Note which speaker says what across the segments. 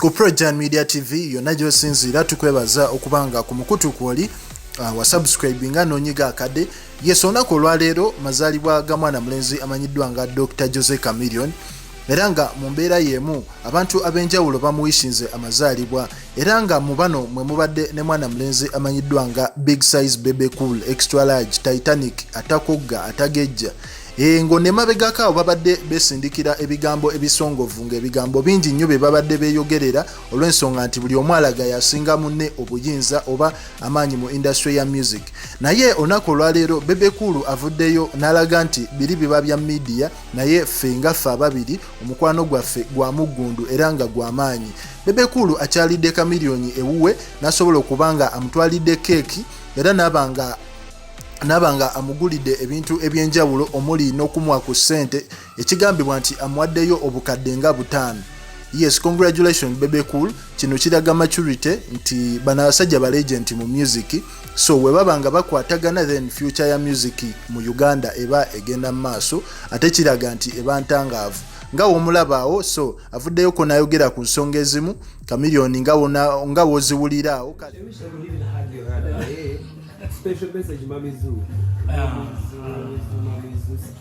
Speaker 1: ku projan media tv yonna gyosinziira tukwebaza okuba nga ku mukutu kwoli uh, wasubscribe nga nonyiga akade yes olunaku olwaleero mazaalibwa ga mwana mulenzi amanyiddwa nga dr jose camilion era nga mu mbeera y'emu abantu ab'enjawulo bamuwishinze amazaalibwa era nga mu bano mwe mubadde ne mwana mulenzi amanyiddwa nga big size bebe cool extra large titanic atakogga atagejja Eh, ngo ne mabegako awo babadde besindikira ebigambo ebisongovu ng'ebigambo bingi nnyo bye babadde beeyogerera olw'ensonga nti buli omu alaga yasinga munne obuyinza oba amaanyi mu indasitule ya music naye olunaku olwaleero bebekulu avuddeyo n'alaga nti biri biba bya midiya naye ffe nga ffe ababiri omukwano gwaffe gwa muggundu era nga gwa maanyi bebekuulu akyalidde kamiliyoni ewuwe n'asobola okuba nga amutwalidde keeki era naaba nga naaba nga amugulidde ebintu eby'enjawulo omuli n'okumwa ku ssente ekigambibwa nti amuwaddeyo obukadde nga butaano yes congratulation bebe cool kino kiraga maturity nti bano abasajja balegenti mu music so webaba nga bakwatagana then future ya music mu uganda eba egenda mu maaso ate kiraga nti eba ntangaavu nga womulabaawo so avuddeyo ko nayogera ku nsonga ezimu kamiliyoni nga woziwuliraawo kale special message, Mamizu. Mamizu,
Speaker 2: Mamizu, Mamizu.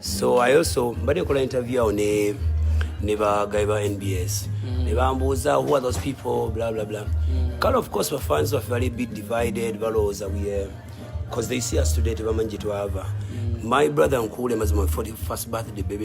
Speaker 2: so
Speaker 3: i also
Speaker 2: mbadde kola interview awo ne ne bagayi ba nbs mm. ne bambuuza who are those people bla bla bla mm. kale of course bafans baffe bali bit divided balowooza we because they see us today tebamanyi gye twava mm. my brother nkuule mazima 41st birthday baby